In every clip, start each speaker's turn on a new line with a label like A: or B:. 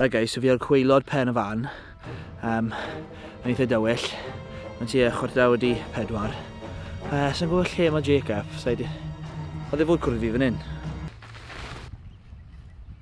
A: Right guys, so fi ar cweilod pen y fan. Um, yn eitha dywyll. Mae'n ti e chwarter awr di pedwar. Uh, Sa'n gwybod lle mae Jacob. Oedd e fod cwrdd fi fan hyn.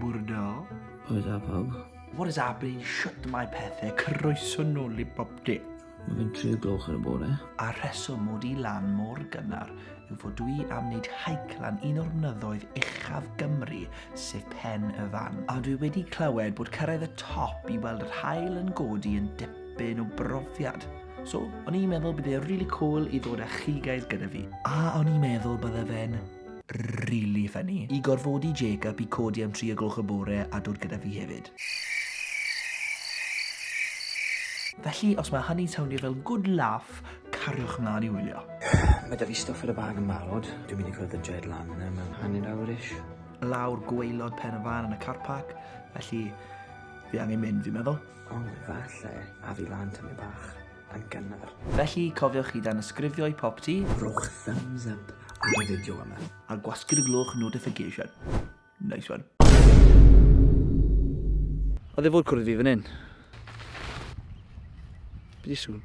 A: Bwrdal. Pwy da pawb? What is happening? Shut my pethau. Croeso nôl i bob dim. Mae fe'n tri gloch ar y bore. A rheswm mod i lan mor gynnar yw fod dwi am wneud haic lan un o'r mynyddoedd uchaf Gymru, sef Pen y Fan. A dwi wedi clywed bod cyrraedd y top i weld yr hael yn godi yn dipyn o brofiad. So, o'n i'n meddwl bydd e really cool i ddod â chi guys gyda fi. A o'n i'n meddwl bydde fe'n really funny. I gorfodi Jacob i codi am 3 o gloch y bore a dod gyda fi hefyd. Felly, os mae hynny'n sowndio fel good laugh, cariwch mlaen i wylio. Mae da fi stwff ar y bag yn barod. Dwi'n mynd i cwrdd y Jed lan yna mewn hanner awr-ish. Lawr gweilod pen y fan yn y car park, felly fi angen mynd, fi'n meddwl. Ond falle a fi lan tymyn bach yn gynnar. Felly, cofiwch i danysgrifio i Popty. Rhowch thumbs up ar y fideo yma. A gwasgu'r gloch notification. Nice one. Oedd e fod cwrdd fi fan hyn? Be di sŵn?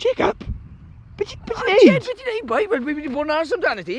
A: Jacob! Be ti'n neud? Be ti'n neud, boi? Wel, fi wedi bod yn aros amdano ti.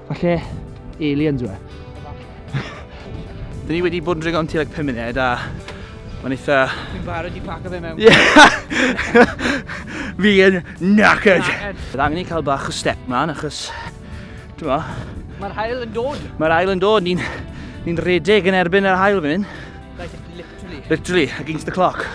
A: Falle aliens yw e. Dyn ni wedi bod yn dringo am ti like 5 munud a mae'n eitha... Fi'n barod i paco fe mewn. Fi yn knackered. Bydd angen i cael bach o step man achos... Dyma. Mae'r hael yn dod. Mae'r hael yn dod. Ni'n ni redeg yn erbyn yr hael fan hyn. Literally. Literally, against the clock.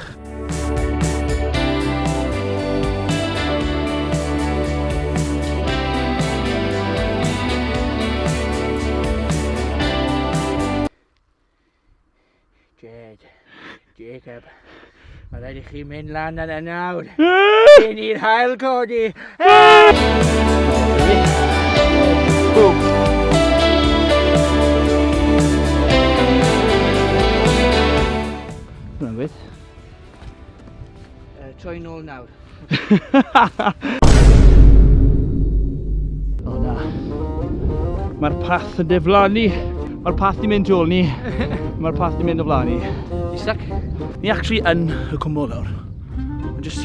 A: Jed, Jacob, mae rhaid i chi mynd lan yn y nawr. Cyn i'r hael codi, Mae'n gweith. Uh, troi'n ôl nawr. o na. Mae'r path yn deflanu. Mae'r path di mynd ôl ni. Mae'r path di mynd o flaen ni. Isaac? Ni actually yn y cwmwl nawr. Just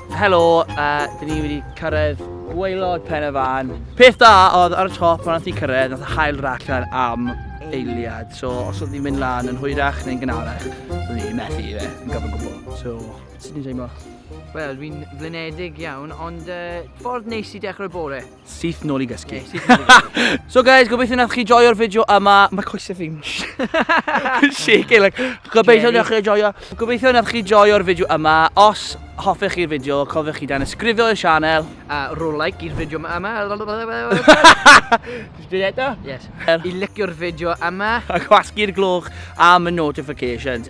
A: Helo, uh, dyn ni wedi cyrraedd gweilod pen y fan. Peth da oedd ar y top pan oedd ti'n cyrraedd, oedd y hael raclan am eiliad. So os oedd ni'n mynd lan yn hwyrach neu'n gynharach, oedd ni'n methu i fe, yn gofyn gwbl. So, sut ni'n teimlo? Wel, dwi'n flinedig iawn, ond uh, ffordd neis i dechrau bore. Syth nôl i gysgu. Yeah, syth nôl i gysgu. so guys, gobeithio nath chi joio'r fideo yma. Mae coesau fi'n shaking, like, gobeithio nath chi joio. Gobeithio nath chi joio'r fideo yma. Os hoffech chi'r fideo, cofiwch chi dan ysgrifio i'r sianel. A rho like i'r fideo yma. Just dweud eto? Yes. I licio'r fideo yma. A gwasgu'r gloch am y notifications.